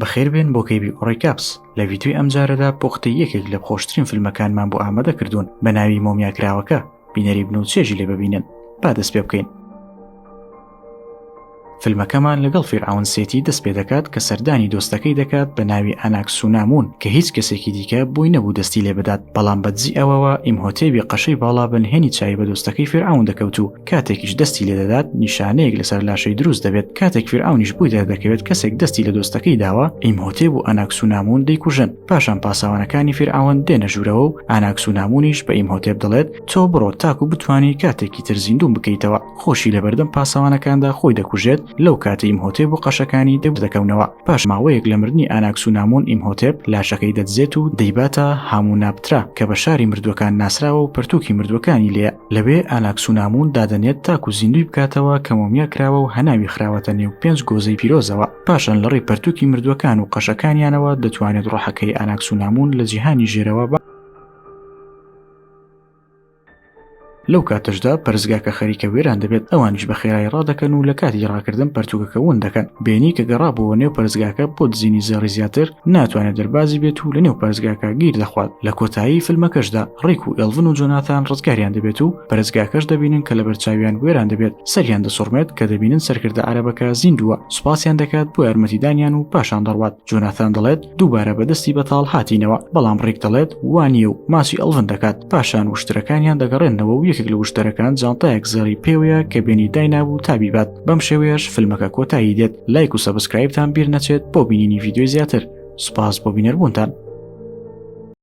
بەخێربێن بۆ کەیبی ئۆڕیکاپس لە ڤیدیۆی ئەمجارەدا پۆختی یەکێک لە خۆشترین فیلمەکانمان بۆ ئامادە کردوون بە ناوی مۆمیاکراوەکە بینەری بن و چێژی لێ ببینن با دەست پێ بکەین فیلمەکەمان لەگەڵ فیرعون سێتی دەست پێ دەکات کە سەردانی دۆستەکەی دەکات بە ناوی ئەناکسونامون کە هیچ کەسێکی دیکە بووی نەبوو دەستی لێ بدات بەڵام بەدزی ئەوەوە ئیمهۆتێبی قەشەی باڵا بە نهێنی چاوی بە دۆستەکەی فیرعون دەکەوت و کاتێکیش دەستی لێ دەدات نیشانەیەک لەسەر لاشەی دروست دەبێت کاتێک فیرعونیش بووی دەردەکەوێت کەسێک دەستی لە دۆستەکەی داوە ئیمهۆتێب و ئەناکسونامون دەیکوژن پاشان پاسەوانەکانی فیرعون دێنە ژوورەوە و ئاناکسونامونیش بە ئیمهۆتێب دەڵێت تۆ بڕۆ تاکو بتانی کاتێکی تر زیندوم بکەیتەوە خۆشی لەبەردەم پاسەوانەکاندا خۆی دەکوژێت لەو کاتە ئیمهۆتێب و قەشەکانی دەبدەکەونەوە پاش ماوەیەک لە مردنی ئاناکسونامون ئیمهۆتێب لاشەکەی دەدزێت و دەیباتە هاموو نابترا کە بە شاری مردوەکان ناسراوە و پەرتووکی مردوەکانی لێ لەوێ ئاناکسونامون دادەنێت تاکو زیندوی بکاتەوە کە مۆمیا کراوە و هەناوی خراوەتە نێو پێنج گۆزەی پیرۆزەوە پاشان لە ڕێی پەرتوکی مردوەکان و قەشەکانیانەوە دەتوانێت ڕۆحەکەی ئاناکسونامون لە جیهانی ژێرەوە بە لەو کاتەشدا پەرزگاکە خەریکە وێران دەبێت ئەوانیش بە خێرای ڕادەکەن و لە کاتی ڕاکردن پەرتوگەکە ون دەکەن بێنی کە گەڕابووە نێو پەرزگاکە بۆ دزینی زێڕی زیاتر ناتوانێت دەربازی بێت و لە نێو پارێزگاکە گیر دەخوات لە کۆتایی فیلمەکەشدا ڕێک و ئێڵڤن و جۆناتان ڕزگاریان دەبێت و پەرزگاکەش دەبینن کە لە بەرچاویان وێران دەبێت سەریان دەسوڕمێت کە دەبینن سەرکردە عەرەبەکە زیندووە سوپاسیان دەکات بۆ یارمەتیدانیان و پاشان دەڕوات جۆناتان دەڵێت دووبارە بەدەستی بەتاڵ هاتینەوە بەڵام ڕێک دەڵێت وانە و ماسی ئەڵڤن دەکات پاشان وشترەکانیان دەگەڕێنەوە و یەکێک لە وشتەرەکان جانتایەک زێڕی پێوەیە کە بێنی داینابوو تابیبات بەم شێوەیەش فیلمەکە کۆتایی دێت لایک و سەبسکرایبتان بیر نەچێت بۆ بینینی ڤیددیوی زیاتر سوپاس بۆ بینەربوونتان